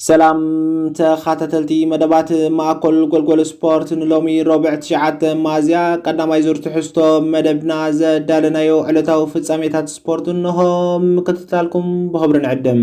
ሰላም ተኻታተልቲ መደባት ማእኮል ጎልጎል ስፖርት ንሎሚ ሮብዕ ትሽዓተ ማዝያ ቀዳማይ ዙር ትሕዝቶ መደብና ዘዳለናዮ ዕለታዊ ፍጻሜታት ስፖርት እንሆ ምክትታልኩም ብኽብሪ ንዕድም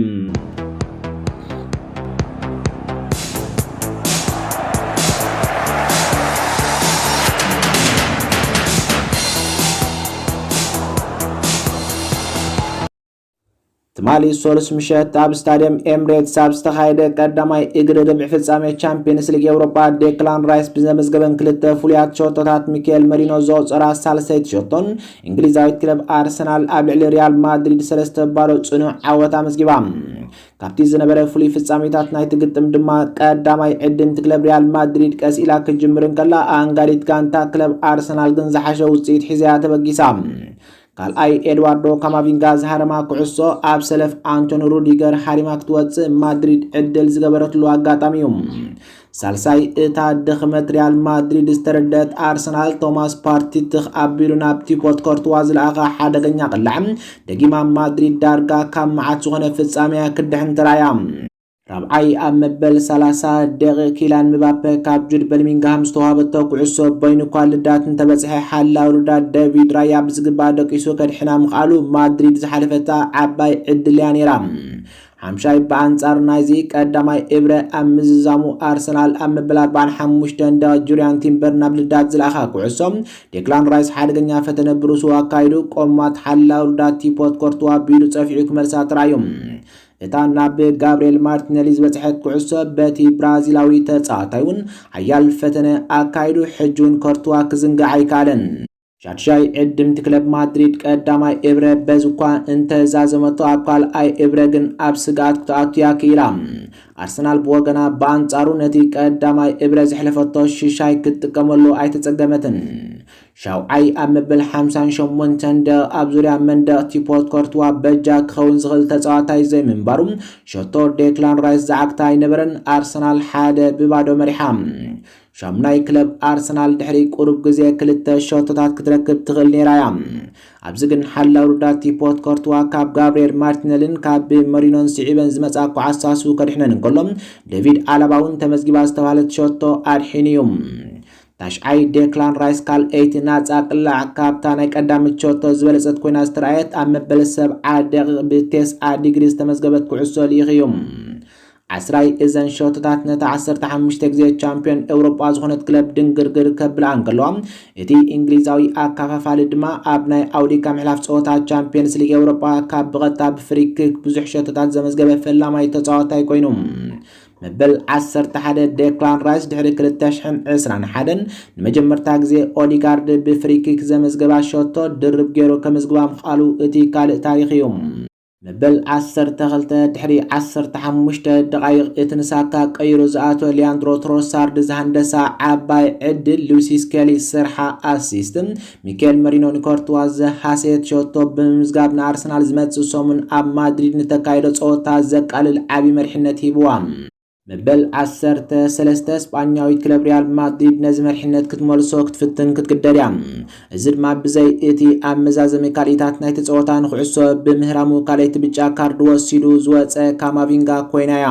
ትማሊ ሶሉስ ምሸት ኣብ ስታዲየም ኤምሬትስ ኣብ ዝተኻየደ ቀዳማይ እግሪ ርብዒ ፍጻሜ ቻምፒየንስ ሊግ ኤውሮጳ ዴክላን ራይስ ብዘመዝገበን ክልተ ፍሉያት ሸቶታት ሚካኤል መሪኖ ዘወፀራ ሳልሰይቲ ሸቶን እንግሊዛዊት ክለብ ኣርሰናል ኣብ ልዕሊ ሪያል ማድሪድ ሰለስተ ባዶ ጽኑዕ ዓወት ኣመዝጊባ ካብቲ ዝነበረ ፍሉይ ፍጻሜታት ናይቲ ግጥም ድማ ቀዳማይ ዕድምቲ ክለብ ሪያል ማድሪድ ቀስ ኢላ ክትጅምር እንከላ ኣንጋዲት ጋንታ ክለብ ኣርሰናል ግን ዝሓሸ ውፅኢት ሒዘያ ተበጊሳ ካልኣይ ኤድዋርዶ ካማቪንጋ ዝሃረማ ኩዕሶ ኣብ ሰለፍ ኣንቶኒ ሩዲገር ሃሪማ ክትወጽእ ማድሪድ ዕድል ዝገበረትሉ ኣጋጣሚ እዩ። ሳልሳይ እታ ድኽመት ሪያል ማድሪድ ዝተረደት ኣርሰናል ቶማስ ፓርቲ ትኽ ኣቢሉ ናብ ቲፖት ኮርትዋ ዝለኣኻ ሓደገኛ ቅላዕ ደጊማ ማድሪድ ዳርጋ ካብ መዓት ዝኾነ ፍጻሜያ ክድሕን ተራእያ። ራብዓይ፣ ኣብ መበል ሰላሳ ደቒቕ ኪላን ምባፐ ካብ ጁድ በልሚንግሃም ዝተዋህበቶ ኩዕሶ በይኑ'ኳ ልዳት እንተበጽሐ፣ ሓላው ልዳት ደቪድ ራያ ብዝግባእ ደቂሱ ከድሕና ምኽኣሉ ማድሪድ ዝሓለፈታ ዓባይ ዕድል'ያ ነይራ። ሓምሻይ፣ ብኣንጻር ናይዚ ቀዳማይ እብረ ኣብ ምዝዛሙ ኣርሰናል ኣብ መበል ኣርባዓን ሓሙሽተን ደቒቕ ጁርያን ቲምበር ናብ ልዳት ዝለኣኻ ኩዕሶ ዴክላን ራይስ ሓደገኛ ፈተነ ብርእሱ ኣካይዱ ቆማት ሓላው ልዳት ቲፖት ኮርቱዋ ብኢዱ ጸፊዑ ክመልሳ ተራእዩ። እታ ናብ ጋብርኤል ማርቲነሊ ዝበጽሐት ኩዕሶ በቲ ብራዚላዊ ተጻዋታይ እውን ሓያል ፈተነ ኣካይዱ፣ ሕጂ እውን ኮርቱዋ ክዝንግዕ ኣይከኣለን። ሻድሻይ ዕድምቲ ክለብ ማድሪድ ቀዳማይ እብረ በዚ እኳ እንተ ዛዘመቶ ኣብ ካልኣይ እብረ ግን ኣብ ስግኣት ክትኣቱ እያ ክኢላ። ኣርሰናል ብወገና ብኣንጻሩ ነቲ ቀዳማይ እብረ ዘሕለፈቶ ሽሻይ ክትጥቀመሉ ኣይተጸገመትን። ሻውዓይ፣ ኣብ መበል ሓምሳን ሸሞንተን ደቕ ኣብ ዙርያ መንደቕ'ቲ ፖርት ኮርትዋ በጃ ክኸውን ዝኽእል ተጻዋታይ ዘይምንባሩ ሸቶ ዴክላን ራይስ ዝዓግታ ኣይነበረን፣ ኣርሰናል ሓደ ብ ባዶ መሪሓ። ሻሙናይ፣ ክለብ ኣርሰናል ድሕሪ ቁሩብ ግዜ ክልተ ሸቶታት ክትረክብ ትኽእል ነይራ እያ፣ ኣብዚ ግን ሓላው ርዳቲ ፖርት ኮርትዋ ካብ ጋብርኤል ማርቲነልን ካብ መሪኖን ስዒበን ዝመጻ ኳዓሳሱ ከድሕነን እንከሎ ዴቪድ ኣላባ'ውን ተመዝጊባ ዝተባህለት ሸቶ ኣድሒኑ እዩ። ታሽዓይ፣ ዴክላን ራይስ ካልኣይቲ ናጻ ቅላዕ ካብታ ናይ ቀዳምት ሸቶ ዝበለጸት ኮይና ዝተራእየት ኣብ መበል ሰብዓ ደቂቕ ብቴስዓ ዲግሪ ዝተመዝገበት ኩዕሶ ልኢኽ እዩ። ዓስራይ፣ እዘን ሸቶታት ነታ ዓሰርተ ሓሙሽተ ግዜ ቻምፕዮን ኤውሮጳ ዝኾነት ክለብ ድንግርግር ከብላ እንከለዋ እቲ እንግሊዛዊ ኣካፋፋሊ ድማ ኣብ ናይ ኣውዲካ ምሕላፍ ጸወታ ቻምፕዮንስ ሊግ ኤውሮጳ ካብ ብቐጥታ ብፍሪክክ ብዙሕ ሸቶታት ዘመዝገበ ፈላማይ ተጻዋታይ ኮይኑ መበል ዓሰርተ ሓደ ዴክላን ራይስ ድሕሪ ክልተ ሽሕን ዕስራን ሓደን ንመጀመርታ ግዜ ኦዲጋርድ ብፍሪኪክ ዘመዝገባ ሸቶ ድርብ ገይሩ ከመዝግባ ምኽኣሉ እቲ ካልእ ታሪኽ እዩ። መበል ዓሰርተ ክልተ ድሕሪ ዓሰርተ ሓሙሽተ ደቓይቕ እቲ ንሳካ ቀይሩ ዝኣተወ ሊያንድሮ ትሮሳርድ ዝሃንደሳ ዓባይ ዕድል ሉሲስ ኬሊ ስርሓ ኣሲስት ሚኬል መሪኖ ንኮርትዋ ዝሃሰየት ሸቶ ብምምዝጋብ ንኣርሰናል ዝመጽእ ሰሙን ኣብ ማድሪድ ንተካይዶ ጸወታ ዘቃልል ዓቢ መሪሕነት ሂብዋ። መበል ዓሰርተ ሰለስተ ስጳኛዊት ክለብ ሪያል ማድሪድ ነዚ መሪሕነት ክትመልሶ ክትፍትን ክትግደድ እያ። እዚ ድማ ብዘይ እቲ ኣብ መዛዘሚ ካልኢታት ናይቲ ጸወታ ንኹዕሶ ብምህራሙ ካልኣይቲ ብጫ ካርድ ወሲዱ ዝወጸ ካማቪንጋ ኮይና እያ።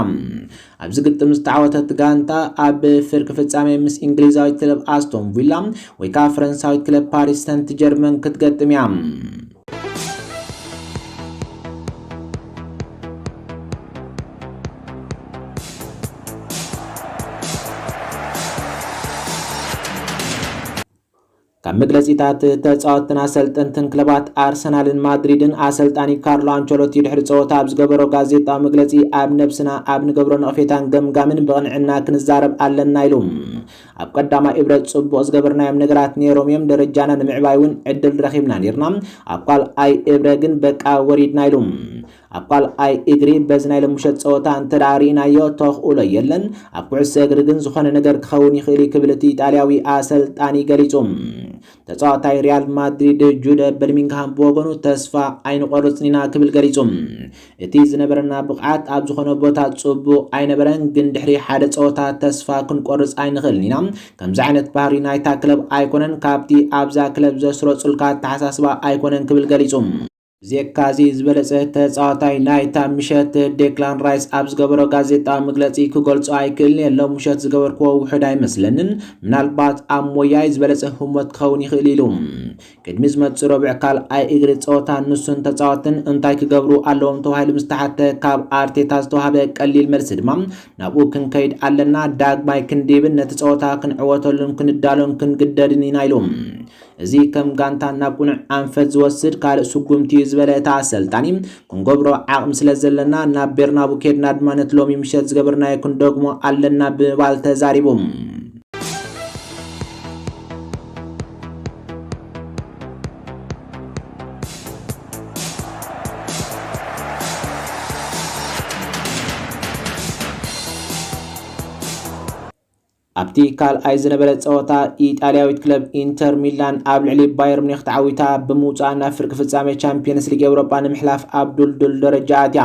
ኣብዚ ግጥም ዝተዓወተት ጋንታ ኣብ ፍርቂ ፍጻሜ ምስ ኢንግሊዛዊት ክለብ ኣስቶን ቪላ ወይ ከኣ ፈረንሳዊት ክለብ ፓሪስ ሰንት ጀርመን ክትገጥም እያ። ካብ መግለጺታት ተጻወትትን ኣሰልጠንትን ክለባት ኣርሰናልን ማድሪድን፣ ኣሰልጣኒ ካርሎ ኣንቸሎቲ ድሕሪ ጸወታ ኣብ ዝገበሮ ጋዜጣዊ መግለጺ፣ ኣብ ነብስና ኣብ ንገብሮ ነቕፌታን ገምጋምን ብቕንዕና ክንዛረብ ኣለና ኢሉ። ኣብ ቀዳማይ እብረ ጽቡቕ ዝገበርናዮም ነገራት ኔሮም'ዮም፣ ደረጃና ንምዕባይ'ውን ዕድል ረኺብና ኔርና፣ ኣብ ካልኣይ እብረ ግን በቃ ወሪድና ኢሉ። ኣብ ካልኣይ እግሪ በዚ ናይ ሎሚ ምሸት ጸወታ እንተድኣ ርኢናዮ ተኽእሎ የለን፣ ኣብ ኩዕሶ እግሪ ግን ዝኾነ ነገር ክኸውን ይኽእል'ዩ ክብል እቲ ኢጣልያዊ ኣሰልጣኒ ገሊጹ። ተጻዋታይ ሪያል ማድሪድ ጁደ በልሚንግሃም ብወገኑ ተስፋ ኣይንቖርጽን ኢና ክብል ገሊጹ። እቲ ዝነበረና ብቕዓት ኣብ ዝኾነ ቦታ ጽቡቕ ኣይነበረን፣ ግን ድሕሪ ሓደ ጸወታ ተስፋ ክንቆርጽ ኣይንኽእልን ኢና፣ ከምዚ ዓይነት ባህሪ ናይታ ክለብ ኣይኮነን፣ ካብቲ ኣብዛ ክለብ ዘስረጹልካ ኣተሓሳስባ ኣይኮነን ክብል ገሊጹ። ብዜካ'ዚ ዝበለጸ ተጻዋታይ ናይታ ምሸት ዴክላን ራይስ ኣብ ዝገበሮ ጋዜጣዊ መግለጺ ክገልጾ ኣይክእልን'የ፣ ሎሚ ምሸት ዝገበርክዎ ውሑድ ኣይመስለንን፣ ምናልባት ኣብ ሞያይ ዝበለጸ ህሞት ክኸውን ይኽእል ኢሉ። ቅድሚ ዝመጽእ ረቡዕ ካልኣይ እግሪ ጸወታ ንሱን ተጻወትን እንታይ ክገብሩ ኣለዎም ተባሂሉ ምስ ተሓትተ ካብ ኣርቴታ ዝተዋህበ ቀሊል መልሲ ድማ ናብኡ ክንከይድ ኣለና፣ ዳግማይ ክንድይብን ነቲ ጸወታ ክንዕወተሉን ክንዳሎን ክንግደድን ኢና ኢሉ። እዚ ከም ጋንታ ናብ ቁኑዕ ኣንፈት ዝወስድ ካልእ ስጉምቲ እዩ ዝበለ እታ ኣሰልጣኒ፣ ክንገብሮ ዓቕሚ ስለዘለና ናብ ቤርናቡ ኬድና ድማ ነቲ ሎሚ ምሸት ዝገበርናዮ ክንደግሞ ኣለና ብምባል ተዛሪቡ። ኣብቲ ካልኣይ ዝነበረ ጸወታ ኢጣልያዊት ክለብ ኢንተር ሚላን ኣብ ልዕሊ ባየር ሙኒኽ ተዓዊታ ብምውጻእ ናብ ፍርቂ ፍጻሜ ቻምፕዮንስ ሊግ ኤውሮጳ ንምሕላፍ ኣብ ድልዱል ደረጃ ኣትያ።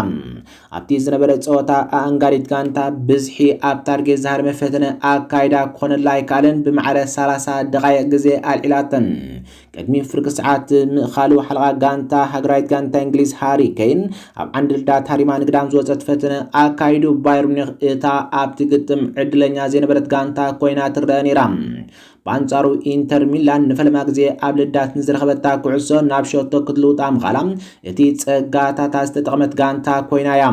ኣብቲ ዝነበረ ጸወታ ኣኣንጋዲት ጋንታ ብዝሒ ኣብ ታርጌት ዝሃረመ ፈተነ ኣካይዳ ክኾነላ ኣይከኣለን ብማዕረ ሰላሳ ደቓይቕ ግዜ ኣልዒላተን። ቅድሚ ፍርቂ ሰዓት ምእኻሉ ሓለቓ ጋንታ ሃገራዊት ጋንታ እንግሊዝ ሃሪ ኬን ኣብ ዓንድልዳ ታሪማ ንግዳም ዝወፀት ፈተነ ኣካይዱ ባየር ሙኒክ እታ ኣብቲ ግጥም ዕድለኛ ዘይነበረት ጋንታ ኮይና ትረአ ነይራ። ብኣንጻሩ ኢንተር ሚላን ንፈለማ ግዜ ኣብ ልዳት ንዝረኸበታ ኩዕሶ ናብ ሸቶ ክትልውጣ ምኻላ እቲ ጸጋታታ ዝተጠቕመት ጋንታ ኮይና እያ።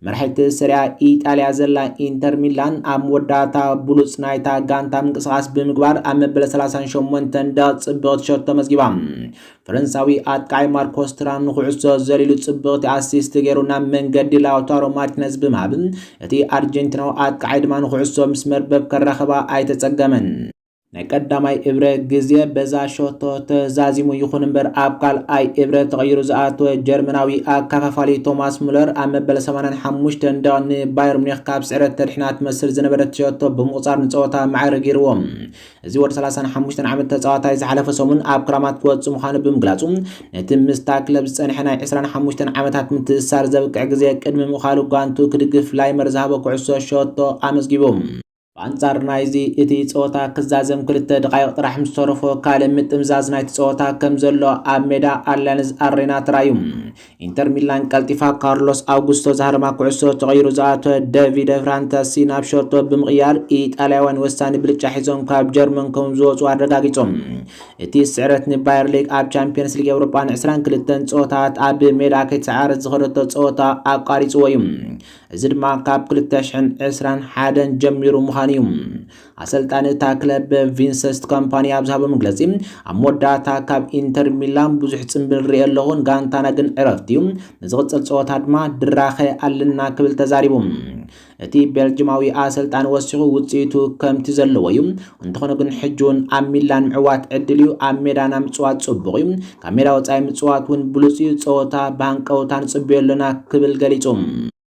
መራሒት ሰሪያ ኢጣልያ ዘላ ኢንተር ሚላን ኣብ መወዳእታ ብሉጽ ናይታ ጋንታ ምንቅስቓስ ብምግባር ኣብ መበለ 38 ደቕ ጽብቕቲ ሸቶ ተመዝጊባ። ፈረንሳዊ ኣጥቃዒ ማርኮስ ትራም ንኩዕሶ ዘሊሉ ጽብቕቲ ኣሲስት ገይሩ ናብ መንገዲ ላውታሮ ማርቲነዝ ብምሃብ እቲ ኣርጀንቲናዊ ኣጥቃዒ ድማ ንኩዕሶ ምስ መርበብ ከራኸባ ኣይተጸገመን። ናይ ቀዳማይ እብረ ግዜ በዛ ሸቶ ተዛዚሙ ይኹን እምበር ኣብ ካልኣይ እብረ ተቐይሩ ዝኣተወ ጀርመናዊ ኣካፋፋሊ ቶማስ ሙለር ኣብ መበል ሰማንያን ሓሙሽተን ደቒቕ ንባየር ሙኒኽ ካብ ስዕረት ተድሕና ትመስል ዝነበረት ሸቶ ብምቑጻር ንጸወታ ማዕረ ገይርዎ። እዚ ወዲ ሰላሳን ሓሙሽተን ዓመት ተጻዋታይ ዝሓለፈ ሰሙን ኣብ ክራማት ክወጽእ ምዃኑ ብምግላጹ ነቲ ምስታ ክለብ ዝጸንሐ ናይ ዕስራን ሓሙሽተን ዓመታት ምትእስሳር ዘብቅዕ ግዜ ቅድሚ ምእኻሉ ጓንቱ ክድግፍ ላይመር ዝሃቦ ኩዕሶ ሸቶ ኣመዝጊቡ። ብኣንጻር ናይዚ፣ እቲ ጸወታ ክዛዘም ክልተ ደቓይቕ ጥራሕ ምስ ተረፎ ካልእ ምጥምዛዝ ናይቲ ጸወታ ከም ዘሎ ኣብ ሜዳ ኣልያንዝ ኣሬና ተራእዩ። ኢንተር ሚላን ቀልጢፋ ካርሎስ ኣውጉስቶ ዝሃረማ ኩዕሶ ተቐይሩ ዝኣተወ ደቪደ ፍራንተሲ ናብ ሸቶ ብምቕያር ኢጣልያውያን ወሳኒ ብልጫ ሒዞም ካብ ጀርመን ከም ዝወጹ ኣረጋጊጾም። እቲ ስዕረት ንባየር ሊግ ኣብ ቻምፕዮንስ ሊግ ኤውሮጳ ን ዕስራን ክልተን ጸወታታት ኣብ ሜድኣ ከይተሰዓረት ዝኸደቶ ጸወታ ኣቋሪጽዎ እዩ። እዚ ድማ ካብ ክልተ ሽሕን ዕስራን ሓደን ጀሚሩ ምዃኑ እዩ ኣሰልጣኒ እታ ክለብ ቪንሰስት ኮምፓኒ ኣብ ዝሃቦ መግለጺ ኣብ መወዳእታ ካብ ኢንተር ሚላን ብዙሕ ጽምብል ርኤ ኣለኹ ጋንታና ግን ዕረፍቲ እዩ ንዝቕጽል ጸወታ ድማ ድራኸ ኣለና ክብል ተዛሪቡ እቲ ቤልጅማዊ ኣሰልጣኒ ወሲኹ ውጽኢቱ ከምቲ ዘለዎ እዩ እንተኾነ ግን ሕጂ እውን ኣብ ሚላን ምዕዋት ዕድል እዩ፣ ኣብ ሜዳና ምጽዋት ጽቡቕ እዩ፣ ካብ ሜዳ ወጻኢ ምጽዋት እውን ብሉጽ እዩ፣ ጸወታ ብሃንቀውታ ንጽበዮ ኣሎና ክብል ገሊጹ።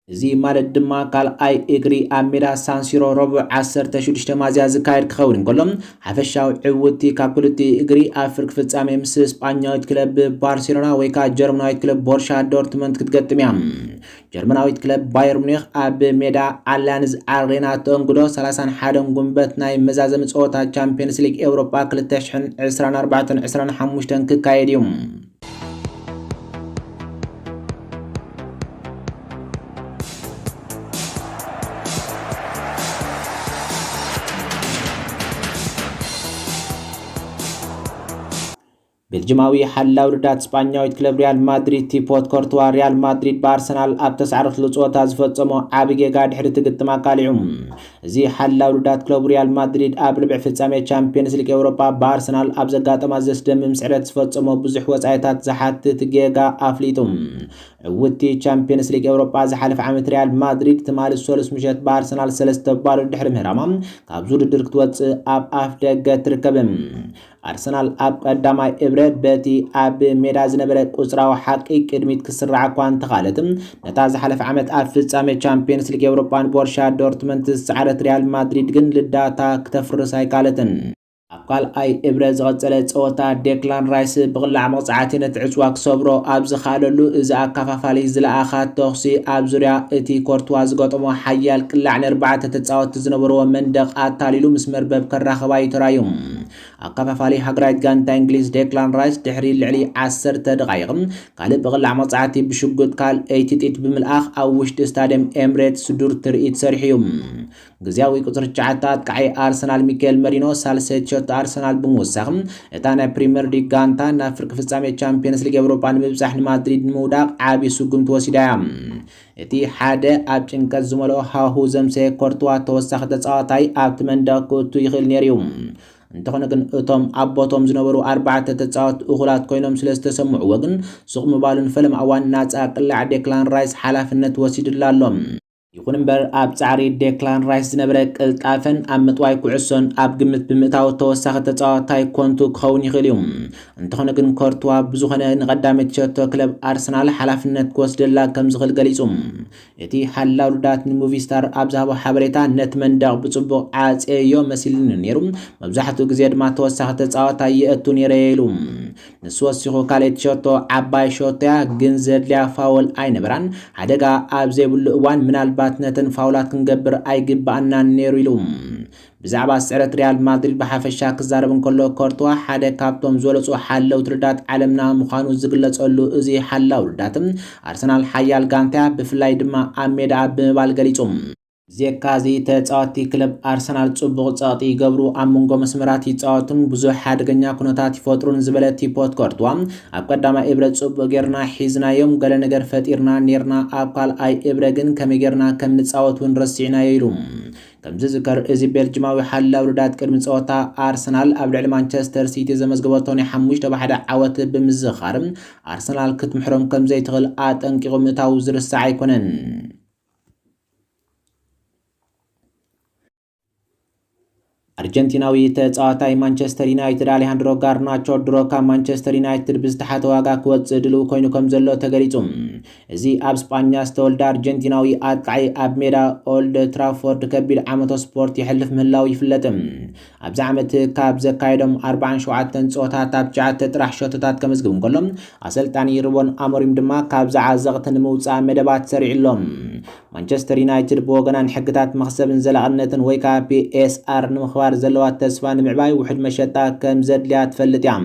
እዚ ማለት ድማ ካልኣይ እግሪ ኣብ ሜዳ ሳንሲሮ ረቡዕ ዓሰርተ ሽዱሽተ ሚያዝያ ዝካየድ ክኸውን እንከሎ፣ ሓፈሻዊ ዕውትቲ ካብ ክልቲኡ እግሪ ኣብ ፍርቂ ፍጻሜ ምስ ስጳኛዊት ክለብ ባርሴሎና ወይ ከኣ ጀርመናዊት ክለብ ቦርሻ ዶርትመንት ክትገጥም እያ። ጀርመናዊት ክለብ ባየር ሙኒኽ ኣብ ሜዳ ኣልያንዝ ኣሬና እተእንግዶ ሰላሳን ሓደን ጉንበት ናይ መዛዘሚ ጸወታ ቻምፕዮንስ ሊግ ኤውሮጳ ክልተ ሽሕን ዕስራን ኣርባዕተን ዕስራን ሓሙሽተን ክካየድ እዩ። ቤልጅማዊ ሓላው ርዳት ስጳኛዊት ክለብ ሪያል ማድሪድ ቲፖት ኮርትዋ ሪያል ማድሪድ ብኣርሰናል ኣብ ተሳዕርኽሉ ጸወታ ዝፈጸሞ ዓቢ ጌጋ ድሕሪ እቲ ግጥም ኣቃሊዑ። እዚ ሓላው ርዳት ክለቡ ሪያል ማድሪድ ኣብ ርብዒ ፍጻሜ ቻምፕዮንስ ሊግ ኤውሮጳ ብኣርሰናል ኣብ ዘጋጠማ ዘስደምም ስዕረት ዝፈጸሞ ብዙሕ ወጻኢታት ዝሓትት ጌጋ ኣፍሊጡ። ዕውቲ ቻምፕዮንስ ሊግ ኤውሮጳ ዝሓለፈ ዓመት ሪያል ማድሪድ ትማሊ ሰሉስ ምሸት ብኣርሰናል ሰለስተ ባዶ ድሕሪ ምህራማ ካብዚ ውድድር ክትወጽእ ኣብ ኣፍ ደገ ትርከብ። ኣርሰናል ኣብ ቀዳማይ እብረ በቲ ኣብ ሜዳ ዝነበረ ቁጽራዊ ሓቂ ቅድሚት ክስራዕ እኳ እንተኻለት ነታ ዝሓለፈ ዓመት ኣብ ፍጻሜ ቻምፒየንስ ሊግ ኤውሮጳን ቦርሻ ዶርትመንት ዝሰዓረት ሪያል ማድሪድ ግን ልዳታ ክተፍርስ ኣይካለትን። ኣብ ካልኣይ እብረ ዝቐጸለ ጸወታ ዴክላን ራይስ ብቕላዕ መቕጻዕቲ ነቲ ዕጽዋ ክሰብሮ ኣብ ዝኸኣለሉ እዚ ኣካፋፋሊ ዝለኣኻ ተኹሲ ኣብ ዙርያ እቲ ኮርትዋ ዝገጠሞ ሓያል ቅላዕ ንኣርባዕተ ተጻወትቲ ዝነበርዎ መንደቕ ኣታሊሉ ምስ መርበብ ከራኽባ'ዩ ተራእዩ። ኣከፋፋሊ ሃገራዊት ጋንታ እንግሊዝ ዴክላን ራይስ ድሕሪ ልዕሊ ዓሰርተ ደቓይቕ ካልእ ብቕላዕ መቕጻዕቲ ብሽጉጥ ካልኣይቲ ጥይት ብምልኣኽ ኣብ ውሽጢ ስታድየም ኤምሬትስ ዱር ትርኢት ሰሪሑ እዩ። ግዝያዊ ቁጽሪ ትሽዓተ ኣጥቃዒ ኣርሰናል ሚካኤል መሪኖ ሳልሰይቲ ሸቶ ኣርሰናል ብምውሳኽ እታ ናይ ፕሪምየር ሊግ ጋንታ ናብ ፍርቂ ፍጻሜ ቻምፕዮንስ ሊግ ኤውሮጳ ንምብጻሕ ንማድሪድ ንምውዳቕ ዓቢ ስጉምቲ ወሲዳ እያ። እቲ ሓደ ኣብ ጭንቀት ዝመልኦ ሃዋህው ዘምሰየ ኮርትዋ ተወሳኺ ተጻዋታይ ኣብቲ መንደቕ ክእቱ ይኽእል ነይሩ'ዩ። እንተኾነ ግን እቶም ኣብ ቦትኦም ዝነበሩ ኣርባዕተ ተጻወትቲ እኹላት ኮይኖም ስለ ዝተሰምዕዎ ግን ሱቕ ምባሉ ንፈለማ እዋን ናጻ ቅላዕ ዴክላን ራይስ ሓላፍነት ወሲድሉ ኣሎ። ይኹን እምበር ኣብ ጻዕሪ ዴክላን ራይስ ዝነበረ ቅልጣፈን ኣብ ምጥዋይ ኩዕሶን ኣብ ግምት ብምእታው ተወሳኺ ተጻዋታይ ኮንቱ ክኸውን ይኽእል'ዩ። እንተኾነ ግን ኮርትዋ ብዝኾነ ንቐዳመይቲ ሸቶ ክለብ ኣርሰናል ሓላፍነት ክወስደላ ከም ዝኽእል ገሊጹ። እቲ ሓላው ርዳት ንሙቪ ስታር ኣብ ዝሃቦ ሓበሬታ ነቲ መንደቕ ብጽቡቕ ዓጽየዮ መሲሉኒ ነይሩ፣ መብዛሕትኡ ግዜ ድማ ተወሳኺ ተጻዋታይ የእቱ ነይረ'የ ኢሉ። ንሱ ወሲኹ ካልኣይቲ ሸቶ ዓባይ ሸቶ'ያ፣ ግን ዘድልያ ፋውል ኣይነበራን፣ ሓደጋ ኣብ ዘይብሉ እዋን ምናልባት ነተን ፋውላት ክንገብር ኣይግበኣናን ነይሩ ኢሉ። ብዛዕባ ስዕረት ሪያል ማድሪድ ብሓፈሻ ክዛረብ እንከሎ፣ ኮርቱዋ ሓደ ካብቶም ዝበለጹ ሓለውቲ ርዳት ዓለምና ምዃኑ ዝግለጸሉ እዚ ሓላው ርዳት፣ ኣርሰናል ሓያል ጋንታ'ያ፣ ብፍላይ ድማ ኣብ ሜዳኣ ብምባል ገሊጹ። ብዜካ'ዚ ተጻወትቲ ክለብ ኣርሰናል ጽቡቕ ጸቕጢ ይገብሩ፣ ኣብ መንጎ መስመራት ይጻወቱን ብዙሕ ሓደገኛ ኩነታት ይፈጥሩን ዝበለ ቲፖት ኮርቱዋ፣ ኣብ ቀዳማይ እብረ ጽቡቕ ጌርና ሒዝናዮም፣ ገለ ነገር ፈጢርና ኔርና፣ ኣብ ካልኣይ እብረ ግን ከመይ ጌርና ከም ንጻወት'ውን ረሲዕናዮ ኢሉ። ከም ዝዝከር እዚ ቤልጅማዊ ሓላው ርዳት ቅድሚ ጸወታ ኣርሰናል ኣብ ልዕሊ ማንቸስተር ሲቲ ዘመዝገበቶ ናይ ሓሙሽተ ብ ሓደ ዓወት ብምዝኻር ኣርሰናል ክትምሕሮም ከም ዘይትኽእል ኣጠንቂቑ ምእታዉ ዝርሳዕ ኣይኮነን። ኣርጀንቲናዊ ተጻዋታይ ማንቸስተር ዩናይትድ ኣሌሃንድሮ ጋርናቾ ድሮ ካብ ማንቸስተር ዩናይትድ ብዝተሓተ ዋጋ ክወጽእ ድልው ኮይኑ ከም ዘሎ ተገሊጹ እዚ ኣብ ስጳኛ ዝተወልደ ኣርጀንቲናዊ ኣጥቃዒ ኣብ ሜዳ ኦልድ ትራፎርድ ከቢድ ዓመቶ ስፖርት የሕልፍ ምህላዉ ይፍለጥ። ኣብዚ ዓመት ካብ ዘካየዶም ኣርብዓን ሸውዓተን ጸወታታት ትሽዓተ ጥራሕ ሸቶታት ከመዝግብ እንከሎ ኣሰልጣኒ ሩበን ኣሞሪም ድማ ካብዚ ዓዘቕቲ ንምውጻእ መደባት ሰሪዑ ኣሎ። ማንቸስተር ዩናይትድ ብወገና ንሕግታት መኽሰብን ዘላቕነትን ወይ ከኣ PSR ንምኽባር ዘለዋ ተስፋ ንምዕባይ ውሑድ መሸጣ ከም ዘድልያ ትፈልጥ እያ።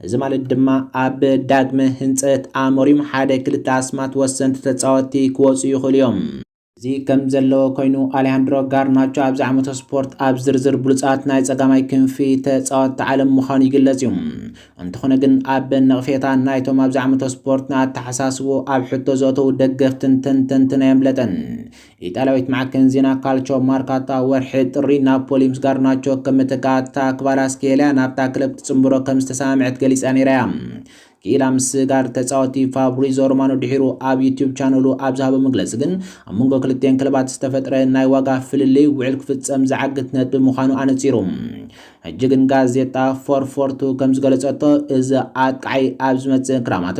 እዚ ማለት ድማ ኣብ ዳግመ ህንፀት ኣሞሪም ሓደ ክልተ ኣስማት ወሰንቲ ተፃወትቲ ክወፁ ይኽእሉ እዮም። እዚ ከምዘለዎ ኮይኑ ኣሊሃንድሮ ጋርናቾ ኣብዚ ዓመተ ስፖርት ኣብ ዝርዝር ብሉፃት ናይ ፀጋማይ ክንፊ ተፃወትቲ ዓለም ምዃኑ ይግለፅ እዩ። እንተኾነ ግን ኣብ ነቕፌታ ናይቶም ኣብዚ ዓመተ ስፖርት ንኣተሓሳስብኡ ኣብ ሕቶ ዘእተዉ ደገፍትን ተንተንትን ኣየምለጠን። ኢጣልያዊት ማዕከን ዜና ካልቾ ማርካታ ወርሒ ጥሪ ናፖሊ ምስ ጋርናቾ ከም መተካእታ ክቫራስኬልያ ናብታ ክለብ ክትጽንብሮ ከም ዝተሰማምዐት ገሊጻ ነይራ እያ። ክኢላ ምስጋር ተጻወቲ ፋብሪዞ ሮማኖ ድሒሩ ኣብ ዩትዩብ ቻነሉ ኣብ ዝሃቦ መግለጺ ግን ኣብ መንጎ ክልቲኤን ክለባት ዝተፈጥረ ናይ ዋጋ ፍልልይ ውዕል ክፍጸም ዝዓግት ነጥቢ ምዃኑ ኣነጺሩ። ሕጂ ግን ጋዜጣ ፎርፎርቱ ከም ዝገለጸቶ እዚ ኣጥቃዓይ ኣብ ዝመጽእ ክራማት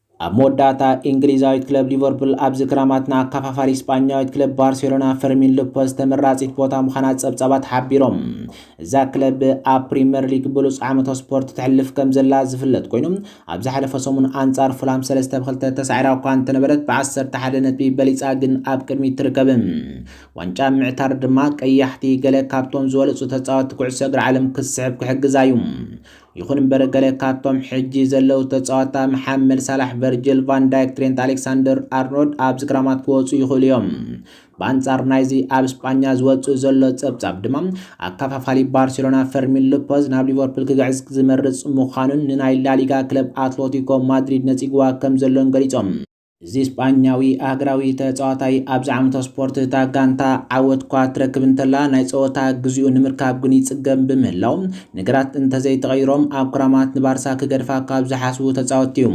ኣብ መወዳእታ፣ ኢንግሊዛዊት ክለብ ሊቨርፑል ኣብዚ ክራማት ንኣካፋፋሪ ስጳኛዊት ክለብ ባርሴሎና ፈርሚን ሎፐዝ ተመራጺት ቦታ ምዃና ጸብጻባት ሓቢሮም። እዛ ክለብ ኣብ ፕሪመር ሊግ ብሉጽ ዓመተ ስፖርት ተሕልፍ ከምዘላ ዝፍለጥ ኮይኑ፣ ኣብ ዝሓለፈ ሰሙን ኣንጻር ፉልሃም ሰለስተ ብ ክልተ ተሳዒራ እኳ እንተነበረት ብ ዓሰርተ ሓደ ነጥቢ በሊጻ ግን ኣብ ቅድሚት ትርከብ። ዋንጫ ኣብ ምዕታር ድማ ቀያሕቲ ገለ ካብቶም ዝበለጹ ተጻወትቲ ኩዕሶ እግሪ ዓለም ክትስሕብ ክሕግዛ እዩ። ይኹን እምበር ገለ ካብቶም ሕጂ ዘለዉ ተጻዋታ መሓመድ ሳላሕ፣ ቨርጅል ቫን ዳይክ፣ ትሬንት ኣሌክሳንደር ኣርኖልድ ኣብዚ ክራማት ክወጹ ይኽእሉ እዮም። ብኣንጻር ናይዚ ኣብ ስጳኛ ዝወጽእ ዘሎ ጸብጻብ ድማ ኣከፋፋሊ ባርሴሎና ፈርሚን ሎፐዝ ናብ ሊቨርፑል ክግዕዝ ዝመርጽ ምዃኑን ንናይ ላሊጋ ክለብ ኣትሎቲኮ ማድሪድ ነጺግዋ ከምዘሎን ገሊጾም። እዚ ስጳኛዊ ኣህግራዊ ተጻዋታይ ኣብዚ ዓመተ ስፖርት እታ ጋንታ ዓወት'ኳ ትረክብ እንተላ ናይ ጸወታ ግዚኡ ንምርካብ ግን ይጽገም ብምህላዉ ነገራት እንተዘይተቐይሮም ኣብ ክራማት ንባርሳ ክገድፋ ካብ ዝሓስቡ ተጻወትቲ'ዩ።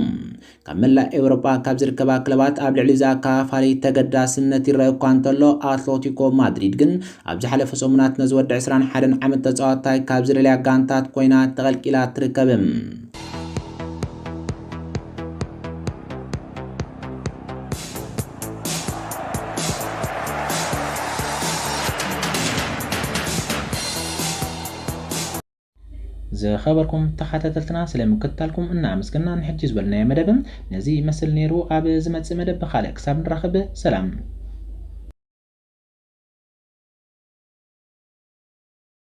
ካብ መላእ ኤውሮጳ ካብ ዝርከባ ክለባት ኣብ ልዕሊ'ዚ ኣከፋፋሊ ተገዳስነት ይረኣ እኳ እንተሎ ኣትሎቲኮ ማድሪድ ግን ኣብ ዝሓለፈ ሰሙናት ነዚ ወዲ ዕስራን ሓደን ዓመት ተጻዋታይ ካብ ዝደልያ ጋንታት ኮይና ተቐልቂላ ትርከብ። ዝኸበርኩም ተኸታተልትና ስለ ምክትታልኩም እናኣመስገና ንሕጂ ዝበልናዮ መደብ ነዚ ይመስል ነይሩ። ኣብ ዝመጽእ መደብ ብኻልእ ክሳብ ንራኸብ ሰላም።